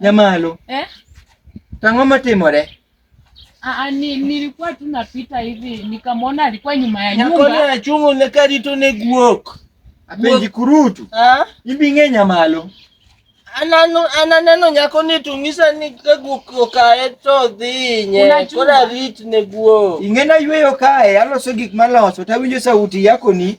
Nyamalo. Eh? Tang'o matimore? Ah, ni, nilikuwa tu napita hivi nikamwona alikuwa nyuma ya nyumba. Nyakoni achungo ne karito ne guok. Apenji kurutu. Ah? Ibi ng'e nyamalo. Anano ananeno nyako ni tung'isa ni ka guok okaye to dhi nye. Kora rit ne guok. Ing'ena yweyo kae aloso gik maloso tawinjo sauti yako ni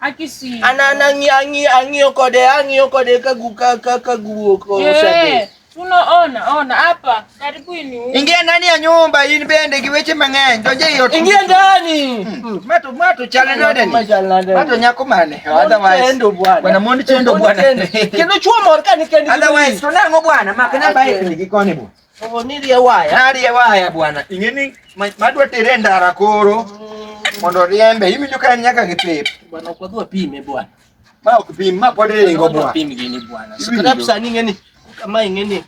Akisi. Ana nangi angi angi okode angi okode kagu kaka kagu okode. Eh, unaona ona hapa karibu ni. Ingia ndani ya nyumba hii bende kiweche mang'eny. Donje hiyo. Ingia ndani. Hmm. Mato mato chale nade ni. Mato nyako mane. Otherwise. Bwana mondi chendo bwana. Kendo chuo mor kani kendi. Otherwise tunango bwana makana bai ni gikoni bwana. Oh, nirie waya. Narie waya bwana. Ingeni madwa tere ndara koro. Mm. Mondo riembe. Hivi ndio kani nyaka gipip. Bwana kwa dua pime bwana. Ma ukipim ma kwa dere ngo bwana. Pime gini bwana. Sikarabu sani ngeni kama ingeni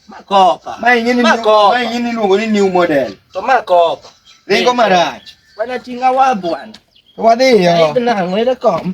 makopa. Ma ingeni makopa. Ma ingeni luongo ni new model. To makopa. Ringo marach. Bwana tinga wa bwana. Wadhi yo. Ai na ngwele kom.